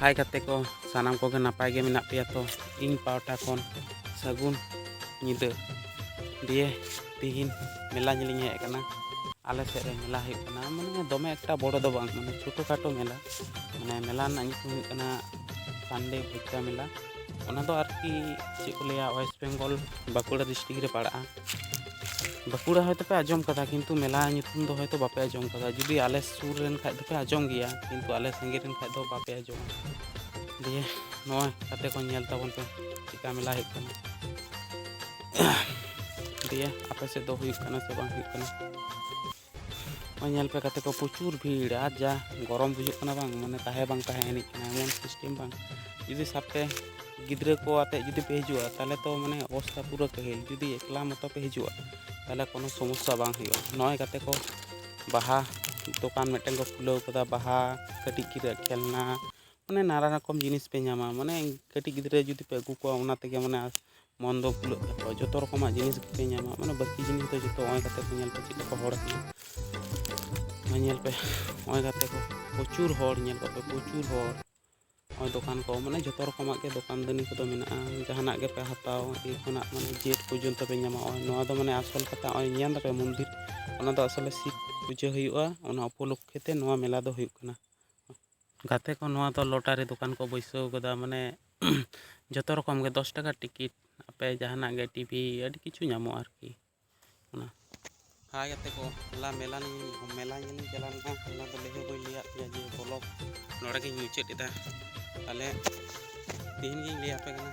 ᱦᱟᱭ ᱜᱟᱛᱮ ᱠᱚ ᱥᱟᱱᱟᱢ ᱠᱚᱜᱮ ᱱᱟᱯᱟᱭ ᱜᱮ ᱢᱮᱱᱟᱜ ᱯᱮᱭᱟ ᱛᱚ ᱤᱧ ᱯᱟᱣᱴᱟ ᱠᱷᱚᱱ ᱥᱟᱹᱜᱩᱱ ᱧᱤᱫᱟᱹ ᱫᱤᱭᱮ ᱛᱤᱦᱤᱧ ᱢᱮᱞᱟ ᱧᱮᱞᱤᱧ ᱦᱮᱡ ᱟᱠᱟᱱᱟ ᱟᱞᱮ ᱥᱮᱫ ᱨᱮ ᱢᱮᱞᱟ ᱦᱩᱭᱩᱜ ᱠᱟᱱᱟ ᱢᱟᱱᱮ ᱫᱚᱢᱮ ᱮᱠᱴᱟ ᱵᱚᱲᱚ ᱫᱚ ᱵᱟᱝ ᱢᱟᱱᱮ ᱪᱷᱳᱴᱳ ᱠᱷᱟᱴᱳ ᱢᱮᱞᱟ ᱢᱟᱱᱮ ᱢᱮᱞᱟ ᱨᱮᱱᱟᱜ ᱧᱩᱛᱩᱢ ᱦᱩᱭᱩᱜ ᱠᱟᱱᱟ ᱥᱟᱱᱰᱮ ᱵᱷᱩᱴᱠᱟ ᱢᱮᱞᱟ ᱚᱱᱟ ᱫᱚ ᱟᱨᱠᱤ ᱪᱮᱫ ᱠᱚ ᱞᱟᱹᱭᱟ ᱳᱭᱮᱥᱴ ᱵᱮᱝᱜᱚᱞ ᱵᱟᱸᱠᱩᱲᱟ ᱰᱤᱥᱴᱨᱤᱠ ᱨᱮ ᱯᱟᱲᱟᱜᱼᱟ ᱵᱟᱸᱠᱩᱲᱟ ᱦᱚᱭᱛᱳ ᱯᱮ ᱟᱸᱡᱚᱢ ᱠᱟᱫᱟ ᱠᱤᱱᱛᱩ ᱢᱮᱞᱟ ᱧᱩᱛᱩᱢ ᱫᱚ ᱦᱚᱭᱛᱳ ᱵᱟᱯᱮ ᱟᱸᱡᱚᱢ ᱠᱟᱫᱟ ᱡᱩᱫᱤ ᱟᱞᱮ ᱥᱩᱨ ᱨᱮᱱ ᱠᱷᱟᱡ ᱫᱚᱯᱮ ᱟᱸᱡᱚᱢ ᱜᱮᱭᱟ ᱠᱤᱱᱛᱩ ᱟᱞᱮ ᱥᱟᱺᱜᱤᱧ ᱨᱮᱱ ᱠᱷᱟᱡ ᱫᱚ ᱵᱟᱯᱮ ᱟᱸᱡᱚᱢᱟ ᱫᱤᱭᱮ ᱱᱚᱣᱟ ᱠᱟᱛᱮ ᱠᱚ ᱧᱮᱞ ᱛᱟᱵᱚᱱ ᱯᱮ ᱪᱮᱠᱟ ᱢᱮᱞᱟ ᱦᱩᱭᱩᱜ ᱠᱟᱱᱟ ᱫᱤᱭᱮ ᱟᱯᱮ ᱥᱮᱫ ᱫᱚ ᱦᱩᱭᱩᱜ ᱠᱟᱱᱟ ᱥᱮ ᱵᱟᱝ ᱦᱩᱭᱩᱜ ᱠᱟᱱᱟ ᱱᱚᱜᱼᱚᱭ ᱧᱮᱞ ᱯᱮ ᱠᱟᱛᱮ ᱠᱚ ᱯᱨᱚᱪᱩᱨ ᱵᱷᱤᱲ ᱟᱨ ᱡᱟ ᱜᱚᱨᱚᱢ ᱵᱩᱡᱩᱜ ᱠᱟᱱᱟ ᱵᱟᱝ ᱢᱟᱱᱮ ᱛᱟᱦᱮᱸ ᱵᱟᱝ ᱛᱟᱦᱮᱸ ᱮᱱᱮᱡ ᱠᱟᱱᱟ ᱮᱢᱚᱱ ᱥᱤᱥᱴᱮᱢ ᱵᱟᱝ ᱡᱩᱫᱤ ᱥᱟᱵᱛᱮ ᱜᱤᱫᱽᱨᱟᱹ ᱠᱚ ᱟᱛᱮ ᱡᱩᱫᱤ ᱯᱮ ᱦᱤᱡᱩᱜᱼᱟ ᱛᱟᱦᱚᱞᱮ ᱛᱚ ᱢᱟᱱᱮ ᱚᱵᱚᱥᱛᱟ ᱯᱩᱨᱟᱹ ᱠᱟᱹᱦᱤᱞ ᱡᱩᱫᱤ ᱮᱠᱞᱟ ᱢᱚᱛᱚ ᱯᱮ ᱦᱤᱡᱩᱜᱼᱟ ᱛᱟᱦᱚᱞᱮ ᱠᱳᱱᱳ ᱥᱚᱢᱚᱥᱥᱟ ᱵᱟᱝ ᱦᱩᱭᱩᱜᱼᱟ ᱱᱚᱜᱼᱚᱭ ᱠᱟᱛᱮ ᱠᱚ ᱵᱟᱦᱟ ᱫᱚᱠᱟᱱ ᱢᱤᱫᱴᱮᱱ ᱠᱚ ᱠᱷᱩᱞᱟᱹᱣ ᱠᱟᱫᱟ ᱵᱟᱦᱟ ᱠᱟᱹᱴᱤᱡ ᱜᱤᱫᱽᱨᱟᱹ ᱠᱷᱮᱞᱱᱟ ᱢᱟᱱᱮ ᱱᱟᱱᱟ ᱨᱚᱠᱚᱢ ᱡᱤᱱᱤᱥ ᱯᱮ ᱧᱟᱢᱟ ᱢᱟᱱᱮ ᱠᱟᱹᱴᱤᱡ ᱜᱤᱫᱽᱨᱟᱹ ᱡᱩᱫᱤ ᱯᱮ ᱟᱹᱜᱩ ᱠᱚᱣᱟ ᱚᱱᱟ ᱛᱮᱜᱮ ᱢᱟᱱᱮ ᱢᱚᱱ ᱫᱚ ᱠᱩᱞᱟᱹᱜ ᱛᱟᱠᱚᱣᱟ ᱡᱚᱛᱚ ᱨᱚᱠᱚᱢᱟᱜ ᱡᱤᱱᱤᱥ ᱜᱮᱯᱮ ᱧᱟᱢᱟ ᱢᱟᱱᱮ ᱵᱟᱹᱠᱤ ᱡᱤᱱᱤᱥ ᱫᱚ ᱡᱚᱛᱚ ᱱᱚᱜᱼᱚᱭ ᱠᱟᱛᱮ ᱠᱚ ᱧᱮᱞ ᱯᱮ ᱪᱮᱫ ᱞᱮᱠᱟ ᱦᱚᱲ ᱠᱟᱱᱟ ᱱᱚᱜᱼᱚᱭ ᱧᱮᱞ ᱯᱮ ᱱᱚᱜᱼᱚᱭ ᱠᱟᱛᱮ ᱠᱚ ᱯᱨᱚᱪᱩᱨ ᱦᱚᱲ ᱧᱮᱞ ᱠᱚᱯᱮ ᱯᱨᱚᱪᱩᱨ ᱦᱚᱲ ᱱᱚᱜᱼᱚᱭ ᱫᱚᱠᱟᱱ ᱠᱚ ᱢᱟᱱᱮ ᱡᱚᱛᱚ ᱨᱚᱠᱚᱢᱟᱜ ᱜᱮ ᱫᱚᱠᱟᱱ ᱫᱟᱹᱱᱤ ᱠᱚᱫᱚ ᱢᱮᱱᱟᱜᱼᱟ ᱡᱟᱦᱟᱱᱟᱜ ᱜᱮᱯᱮ ᱦᱟᱛᱟᱣ ᱮ ᱠᱷᱚᱱᱟᱜ ᱢᱟᱱᱮ ᱡᱮᱴ ᱯᱚᱨᱡᱚᱱᱛᱚ ᱯᱮ ᱧᱟᱢᱟ ᱱᱚᱜᱼᱚᱭ ᱱᱚᱣᱟ ᱫᱚ ᱢᱟᱱᱮ ᱟᱥᱚᱞ ᱠᱟᱛᱷᱟ ᱱᱚᱜᱼᱚᱭ ᱧᱮᱞ ᱫᱟᱯᱮ ᱢᱚᱱᱫᱤᱨ ᱚᱱᱟ ᱫᱚ ᱟᱥᱚᱞᱮ ᱥᱤᱵ ᱯᱩᱡᱟᱹ ᱦᱩᱭᱩᱜᱼᱟ ᱚᱱᱟ ᱩᱯᱚᱞᱚᱠᱠᱷᱮ ᱛᱮ ᱱᱚᱣᱟ ᱢᱮᱞᱟ ᱫᱚ ᱦᱩᱭᱩᱜ ᱠᱟᱱᱟ ᱜᱟᱛᱮ ᱠᱚ ᱱᱚᱣᱟ ᱫᱚ ᱞᱚᱴᱟᱨᱤ ᱫᱚᱠᱟᱱ ᱠᱚ ᱵᱟᱹᱭᱥᱟᱹᱣ ᱠᱟᱫᱟ ᱢᱟᱱᱮ ᱡᱚᱛᱚ ᱨᱚᱠᱚᱢ ᱜᱮ ᱫᱚᱥ ᱴᱟᱠᱟ ᱴᱤᱠᱤᱴ ᱟᱯᱮ ᱡᱟᱦᱟᱱᱟᱜ ᱜᱮ ᱴᱤᱵᱷᱤ ᱟᱹᱰᱤ ᱠᱤᱪᱷᱩ ᱧᱟᱢᱚᱜᱼᱟ ᱟᱨᱠᱤ ᱚᱱᱟ ᱦᱟᱭ ᱜᱟᱛᱮ ᱠᱚ ᱦᱚᱞᱟ ᱢᱮᱞᱟ ᱢᱮᱞᱟ ᱧᱮᱞᱤᱧ ᱪᱟᱞᱟᱣ ᱞᱮᱱᱟ ᱦᱚᱞᱟ ᱫᱚ ᱞᱟᱹᱭ ᱦᱚᱸ ᱵᱟᱹᱧ ᱞᱟᱹᱭᱟᱫ ᱯᱮᱭᱟ ᱡᱮ ᱵᱚᱞᱚᱠ ᱱᱚᱰᱮ ᱜᱤᱧ ᱢᱩᱪᱟᱹᱫ ᱮᱫᱟ ᱛᱟᱦᱚᱞᱮ ᱛᱮᱦᱮᱧ ᱜᱤᱧ ᱞᱟᱹᱭᱟᱯᱮ ᱠᱟᱱᱟ